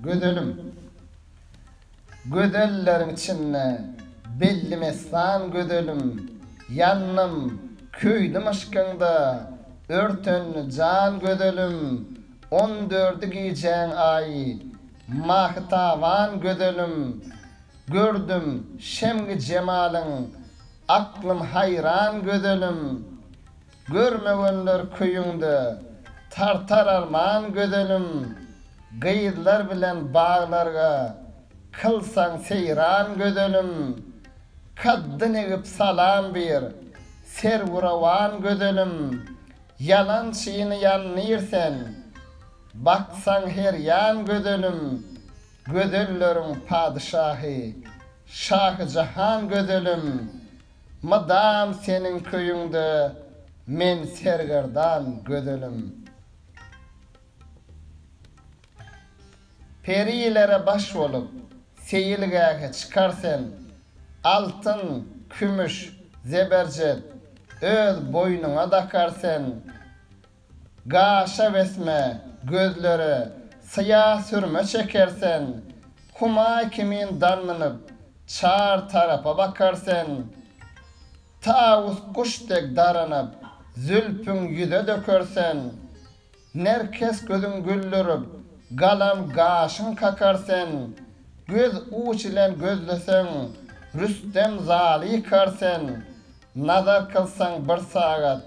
Gözelim. Gözelleriň içinde belli messan gözelim Ýandym, köýdüm yşkyňda, örtendi jan gözelim On dördi gijäň aýy, mahytaban gözelim Gördüm, şemgi jemalyň, aklym haýran gözelim. Görmegenler köýüňde tartar arman gözelim Gyzlar bilen baglarga kylsaň seýran gözelim Kaddyn egip salam bir serwurawan gözelim Ýalançyny ýandyr sen baksaň her ýan gözelim Gözelleriň padyşahy şahy jahan gözelim Mydam seniň köýüňde men sergerdan gözelim. Perilere baş bolup, seýilgähe çykar sen, Altyn, kümüş, zeberjet öz boýnuňa dakar sen. Gaşa wesme, gözlere syýa sürme çeker sen, Humaý kimin darnynyp, çar tarapa bakar sen. Tawus guş dek daranyp, zülpüň ýüze döker sen, Nerkes gözüň güldürip, galam gaşyň kakar sen. Göz uç ile gözleseň, Rüstem zaly ykar sen, Nazar kylsaň bir sagat,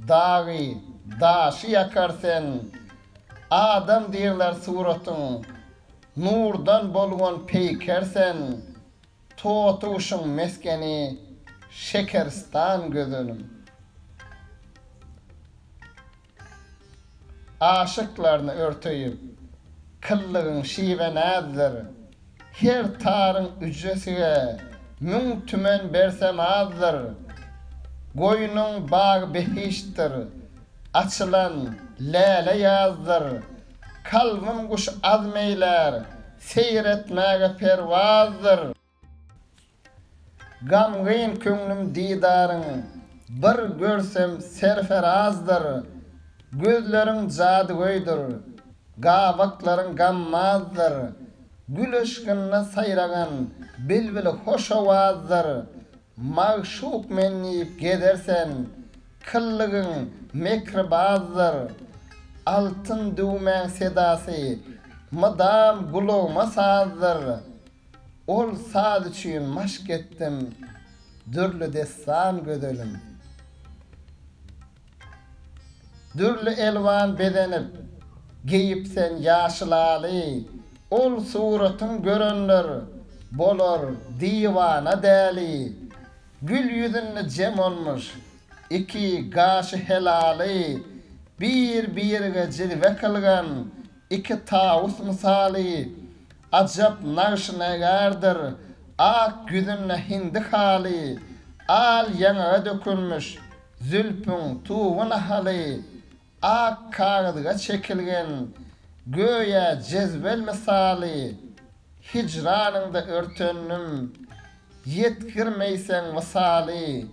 Dagy, daşy ýakar sen, Adam diýrler suratyň, Nurdan bolgan peýker sen, Totuguşyň mesgeni, Şekeristan gözelim. Aşyklaryny örteýip, Kyllygyň şiwe-näzdir, Her taryň ücresige müň tümen bersem azdyr, Goýnuň bagy behiştdir, açylan läle ýazdyr. Kalbym guş azm eýlär, seýr etmäge perwazdyr. Gamgyn köňlüm didaryň bir görsem serferazdyr, Gözleriň jadygöýdür, gabaklaryň gammazdyr, Gül yşkynda saýragan bilbil hoş owazdyr, Magşuk men diýip gezersen, kyllygyň mekribazdyr, Altyn düwmäň sedasy mydam gulagyma sazdyr, Ol saz üçin maşk etdim dürli dessan gözelim. Dürli elwan bezenip, geýip sen ýaşylaly, ol suratyn görenler bolar diwana däli. Gül ýüzünde jem olmuş iki gaşy helaly, bir-birige jizbe kylgan Iki tawus mysaly, Ajap nagşynegardyr, Ak ýüzünde hindi haly, Al ýaňaga dökülmiş, Zülpüň tugy nahaly, Ak kagyzga çekilgen, Göýä jezwel mysaly, Hijranyňda örtendim, Ýetgirmeýseň wysaly,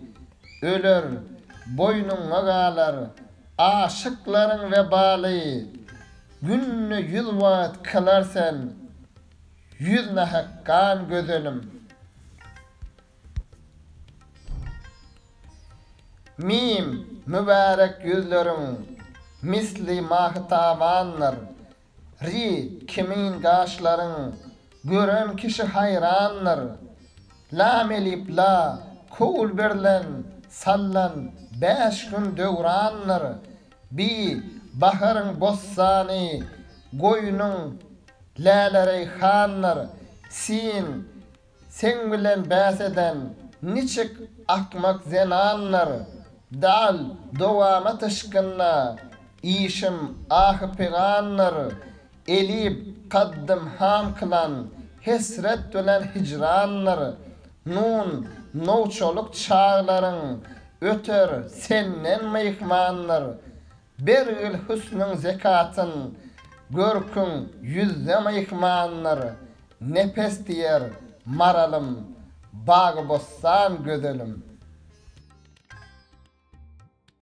öler, boýnuňa galar, aşyklaryň webaly. Günde ýüz wagt kylar sen, ýüz nahak gan gözenim. Mim, Mübärek ýüzleriň, misli mahy-tabandyr, Ri kimin gaşlaryň gören kişi haýrandyr. Lam-elip la köwül berlen sallan bäş gün döwrandyr. Bi baharyň bossany goýnuň lälereýhandyr. Sin Seň bilen bäs eden niçik akmak zenandyr, Dal dowama tyşgynda işim ahy-pygandyr, Elib kaddym han kylan hesret bilen hijrandyr, Nun nowçalyk çaglaryň öter senden myhmandyr, Bergil hüsnüň zekatyn, görküň ýüzde myhmandyr, Nepes diýer, maralym, bagy-bossan gözelim.